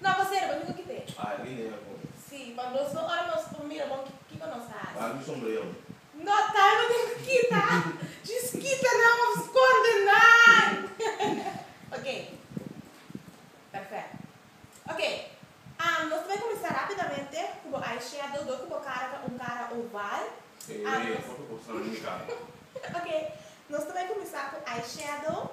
No bo serba mi no ki pe. Ay mi ne me pone. Si pa nos no ora nos por mira bon kiko nos ta hasi. Dame sombrero mi. No tawe bo tin ku kita. Djis kita nan of skonde nan. Ok perfecto ok am nos ta bai kuminsá rapidamente ku bo eye shadow do ku bo kara ta un kara oval am nos. Ok nos ta bai kuminsá ku eye shadow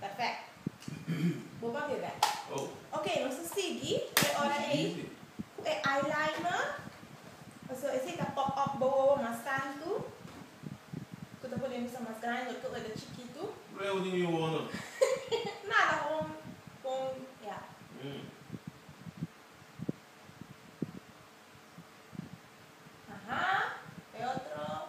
Perfect. Bo papia bel. Ok, nos ta sigui e ora ei cu e eyeliner. Pasobra esey ta pop up bo wowo mas tantu. Cu ta pone misa mas grandi dor cu oe ta chikitu. Luego di mi wowo no. Nada, gewoon pon ya. Aha, e otro.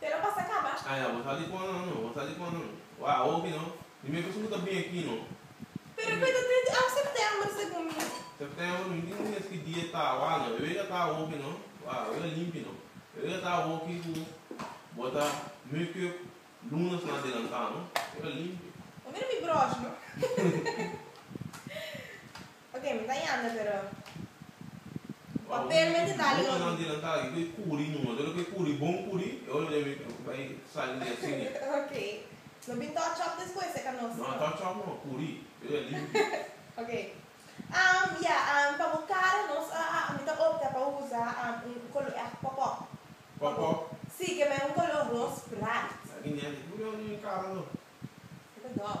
Pero pa sa caba. Ah ya, bo sa di con nan, bo sa di con nan. Wah, a hopi no. Mi me pasobra ta bini aki no. Pero Pedro a bini di af September, segun mi. September mi tin mes ki dia ta. Wah no, e wega ta hopi no. Wah, e wega limpi no. E wega ta hopi cu bo ta make-up lunes na adelanta no. E wega limpi. Bo mira mi brosh no. Oke, mi ta yanda pero un papel mi te dal oke, no bin touch up despues e canos no? Oke, am ya am pa bo cara nos a mi ta opta pa usa am un color echt pop-up pa bo si ke men un color ros bright e ta dòf.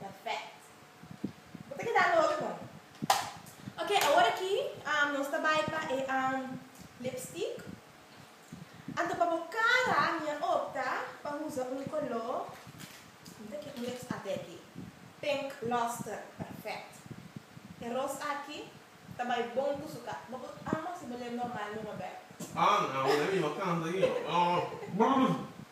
Perfect. Bo ta keda lo otro kong. Ok, awor aki nos ta bai pa e lipstick. Anto pa bo cara mi a opta pa usa un color, mi ta ke un lips arte aki. Pink Luster, perfect. E ros aki ta bai bon cu su cara. Bo a mos si bo lep normal, mi Roberto. Ah, nan, awor e mi a canta aki.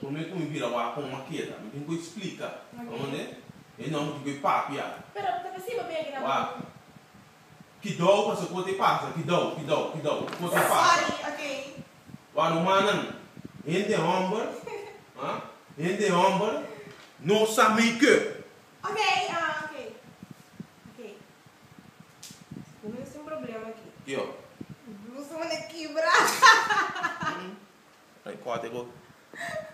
Por mi cu mi bira wak con Makeda, mi tin cu e explica pa mande e no mi tin cu e papia. Wak. Kidou pasa cu te pasa, kidou, kidou, kidou, cu te pasa. Wak rumannan, hende homber, hende homber no sa make up. Ok ah ok ok Bo mester tin problema aki. Yo. Blusa manda kibra. Ay kòrte bo.